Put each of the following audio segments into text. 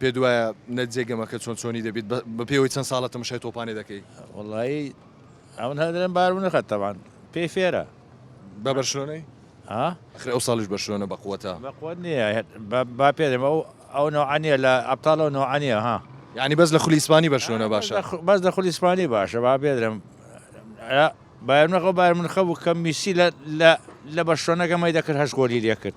پێت وایە نەججێ گەمەکە چۆن چۆنی دەبیت بە پێوەی چەند ساڵە تەمەشای تۆپانێ دەکەی؟ وەڵایی ئەو هەدرێن بار بنرخە تەوان پێی فێرە بە بەرشلۆنەی ئەخر ئەو ساڵیش بەرشلۆنە بە قوتە بە قوت نییە با پێدەم ئەو ئەو نوعانە لە ئەبتاڵ و نوعانە ها یعنی بەس لە خولی ئیسپانی بەرشلۆنە باشە بەس لە خولی ئیسپانی باشە با بێدرم بایەنەکە بایمنخە بوو کە میسی لە لە بەرشلۆنەکە مەی دەکرد هەش گۆلی لێکرد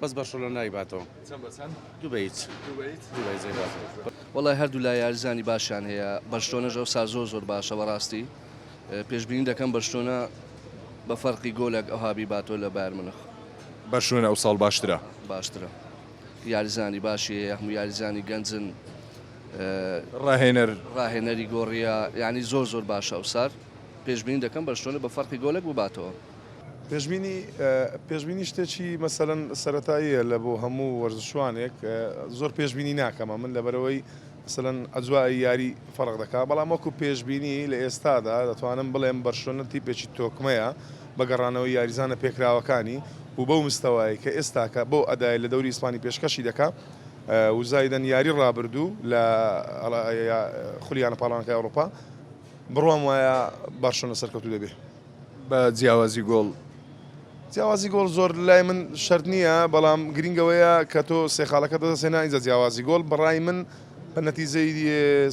بەس بەرشەلۆنە نایباتەوە. چەند بە چەند؟ دوو بە هیچ. دوو بە هیچ؟ دوو بە هیچ نایباتەوە. وەڵای هەردوو لا یاریزانی باشیان هەیە بەرشلۆنەش ئەوسا زۆر زۆر باشە بەڕاستی پێشبینی دەکەم بەرشلۆنە بە فەرقی گۆلەک ئەوها بیباتەوە لە بایرن مونخ. بەرشلۆنە ئەوساڵ باشترە. باشترە یاریزانی باشی هەیە هەموو یاریزانی گەنجن. ڕاهێنەر. ڕاهێنەری گۆڕیە یانی زۆر زۆر باشە ئەوسار پێشبینی دەکەم بەرشلۆنە بە فەرقی گۆلەک بباتەوە. پێشبینی پێشبینی شتێکی مەسەلەن سەرەتاییە لە بۆ هەموو وەرزشوانێک زۆر پێشبینی ناکەمە من لەبەرەوەی مەسەلەن ئەجوای یاری فەرق دەکات بەڵام وەکو پێشبینی لە ئێستادا دەتوانم بڵێم بەرشلۆنە تیپێکی تۆکمەیە بە گەڕانەوەی یاریزانە پێکراوەکانی و بەو مستەوایە کە ئێستاکە بەو ئەدای لە دەوری ئیسپانی پێشکەشی دەکات و زایدەن یاری ڕابردوو لە خولیانە پاڵەوانەکەی ئەوروپا بڕوام وایە بەرشلۆنە سەرکەوتوو دەبێت. بە جیاوازی گۆڵ جیاوازی گۆڵ زۆر لای من شەرت نییە بەڵام گرنگەوەیە کە تۆ سێ خاڵەکە دەدەسێنا ئینجا جیاوازی گۆڵ بەڕای من بە نەتیجەی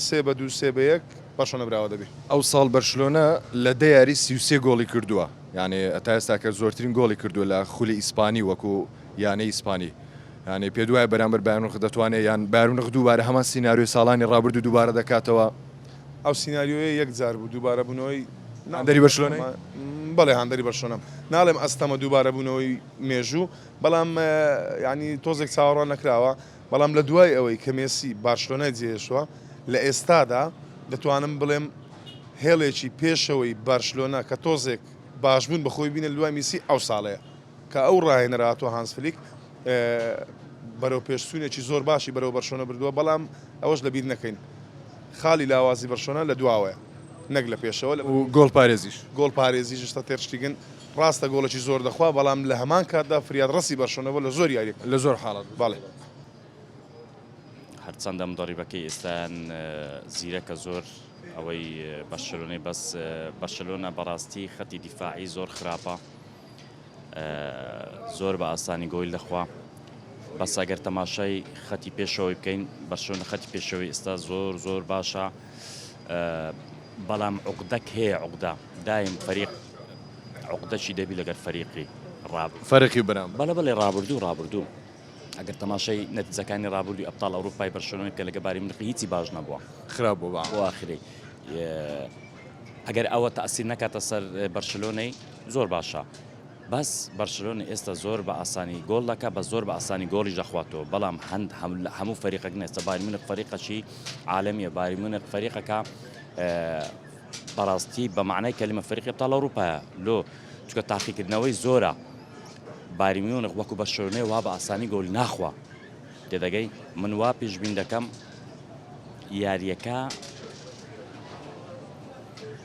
سێ بە دوو سێ بە یەک بەرشۆنە براوە دەبێ. ئەوساڵ بەرشلۆنە لە دە یاری سی و سێ گۆڵی کردووە یانێ تا ئێستاکە زۆرترین گۆڵی کردووە لە خولی ئیسپانی وەکو یانەی ئیسپانی یانێ پێت وایە بەرامبەر بایرن مونخ دەتوانێ یان بایرن مونخ دووبارە هەمان سیناریۆی ساڵانی ڕابردوو دووبارە دەکاتەوە؟ ئەو سیناریۆیە یەک جار بوو دووبارە بوونەوەی هاندەری بەرشلۆنە بەڵێ هاندەری بەرشلۆنەم ناڵێم ئەستەمە دووبارە بوونەوەی مێژوو بەڵام ینی تۆزێک چاوەڕوان نەکراوە بەڵام لە دوای ئەوەی کە مێسی بارشلۆنای جێشوە لە ئێستادا دەتوانم بڵێم هێڵێکی پێشەوەی بارشلۆنا کە تۆزێک باشبوون بەخۆی بینە دوای میسی ئەو ساڵەیە کە ئەو راهێنەرە هاتووە هانز فلیک بەرەوپێشچوونێکی زۆر باشی بەرەو بەرشۆنە بردووە، بەڵام ئەوەش لەبیر نەکەین خاڵی لاوازی بەرشۆنە لە دواوەیە نەک لە پێشەوە، گۆڵپارێزیش گۆڵپارێزیش شتە تێر شتیگن، راستە گۆڵێکی زۆر دەخوا، بەڵام لە هەمان کاتدا فریاد رەسی بەرشۆنە بووە لە زۆر یارییەک. لە زۆر حاڵەت بەڵێ. هەرچەندە مدەڕیبەکەی ئێستایان زیرەکە زۆر ئەوەی بەرشەلۆنەی بەس بەرشەلۆنە بەڕاستی خەتی دیفاعی زۆر خراپە. زۆر بە ئاسانی گۆیل دەخوا بەس ئەگەر تەماشای خەتی پێشەوەی بکەین بەرشۆنە خەتی پێشەوەی ئێستا زۆر زۆر باشە بەڵام عقدەک هەیە عقدا دایم فەریق عقدەشی دەبی لەگەر فەریقی ڕاب فەرقی برام بەڵە بەڵێ ڕابردوو ڕابردوو ئەگەر تەماشای نەتیزەکانی ڕابووی ئەپتال ئەوروپای بەرشۆنەوەی کە لەگە باری منقی هیچی باش نەبووە خراپ بۆ بەواخری ئەگەر ئەوە تاسی نەکاتە سەر بەرشلۆنەی زۆر باشە بەس بەرشلۆنە ئێستە زۆر بە ئاسانی گۆڵ دەکا بە زۆر بە ئاسانی گۆڵیش دەخواتەوە بەڵام هەند هەموو فەریقەک نێستە باری منە فەریقەشی عاالمیە باری منە فەریقەکە بەڕاستی بە معنای کەلیمە فەرقی تاڵ ئەوروپایە لۆ چکە تاقیکردنەوەی زۆرە باریمیونخ وەکو بە شوێنێ وا بە ئاسانی گۆل ناخوا تێدەگەی من وا پیشبین دەکەم یاریەکە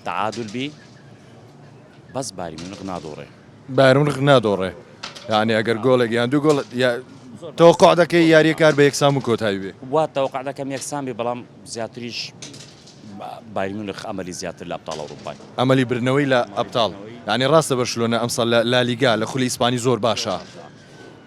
تعادل بی بەس بایرن میونخ نادۆڕێ. بایرن میونخ نادۆڕێ یانی ئەگەر گۆڵێک یان دوو گۆڵ تەوەقع دەکەی یاریەکار بە یەکسان و کۆتایی بێ وا تەوەقع دەکەم یەکسان بێ بەڵام زیاتریش بایرن میونخ ئەمەلی زیاتر لە ئەبطاڵ ئەوروپای ئەمەلی بردنەوەی لە ئەبطاڵ یانی ڕاستە بەرشلۆنە ئەمساڵ لە لالیگا لە خولی ئیسپانی زۆر باشە.